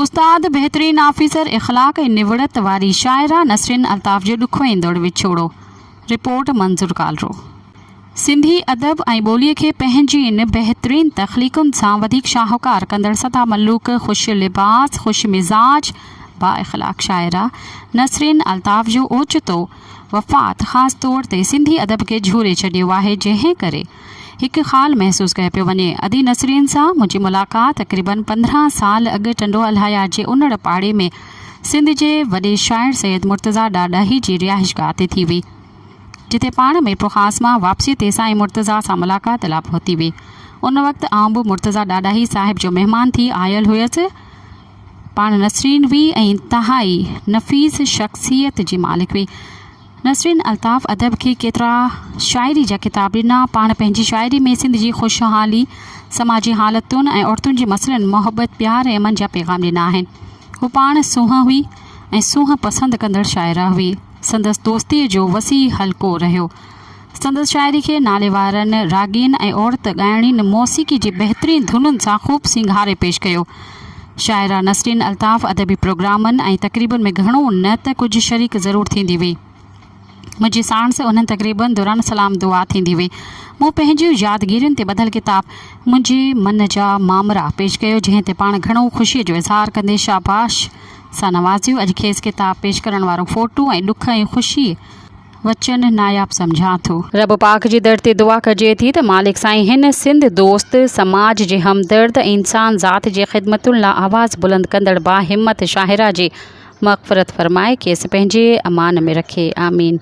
استاد بهترين آفيسر اخلاق ۽ نوڙت واري شاعره نسرين الطاف جو ڏکو ايندڙ وڇوڙو، رپورٽ منظور ڪالرو. سنڌي ادب ۽ ٻوليء کي پنهنجين بهترين تخليقن سان وڌيڪ شاهوڪار ڪندڙ سدا ملوڪ، خوش لباس، خوش مزاج، با اخلاق شاعره نسرين الطاف جو اوچتو وفات خاص طور تي سنڌي ادب کي جهوري ڇڏيو آهي جنهن ڪري هڪ خال محسوس ڪيو پيو وڃي. ادي نسرين سان منهنجي ملاقات تقريبن پندرهن سال اڳ ٽنڊو الاهيار جي انڙ پاڙي ۾ سنڌ جي وڏي شاعر سيد مرتضيٰ ڏاڏاهي جي رهائشگاهه تي ٿي هئي. جتي پاڻ ميرپورخاص مان واپسيء تي سائين مرتضيٰ سان ملاقات لاء پهتي هئي. ان وقت آئون به مرتضيٰ ڏاڏاهي صاحب جو مهمان ٿي آيل هيس. پاڻ نسرين هئي ۽ انتهائي نفيس شخصيت جي مالڪ هئي. نسرين الطاف ادب کي ڪيترا شاعري جا ڪتاب ڏنا. پاڻ پنهنجي شاعري ۾ سنڌ جي خوشحالي، سماجي حالتن ۽ عورتن جي مسئلن، محبت، پيار ۽ امن جا پيغام ڏنا آهن. هو پاڻ سونهن هئي ۽ سونهن پسند ڪندڙ شاعره هئي. سندس دوستيء جو وسيع حلقو رهيو. سندس شاعري کي ناليوارن راڳين ۽ عورت ڳائڻين موسيقي جي بهترين ڌنن سان خوب سينگاري پيش ڪيو. شاعره نسرين الطاف ادبي پروگرامن ۽ تقريبن ۾ گهڻو نه ته ڪجهه شريڪ ضرور ٿيندي هئي. منهنجي ساڻس انهن تقريبن دوران سلام دعا ٿيندي هئي. مون پنهنجيون يادگيرين تي ٻڌل ڪتاب منهنجي من جا مامرا پيش ڪيو جنهن تي پاڻ گهڻو خوشي جو اظهار ڪندي شاباش سان نوازيو. اڄ کيس ڪتاب پيش ڪرڻ وارو فوٽو ۽ ڏک ۽ خوشي. وچن ناياب سمجهان ٿو. رب پاڪ جي در تي دعا ڪجي ٿي ته مالڪ سائين هن سنڌ دوست، سماج جي همدرد ۽ انسان ذات جي خدمتن لا آواز بلند ڪندڙ با همت شاهراهه جي مغفرت فرمائي کيس پنهنجي امان ۾ رکي. آمين.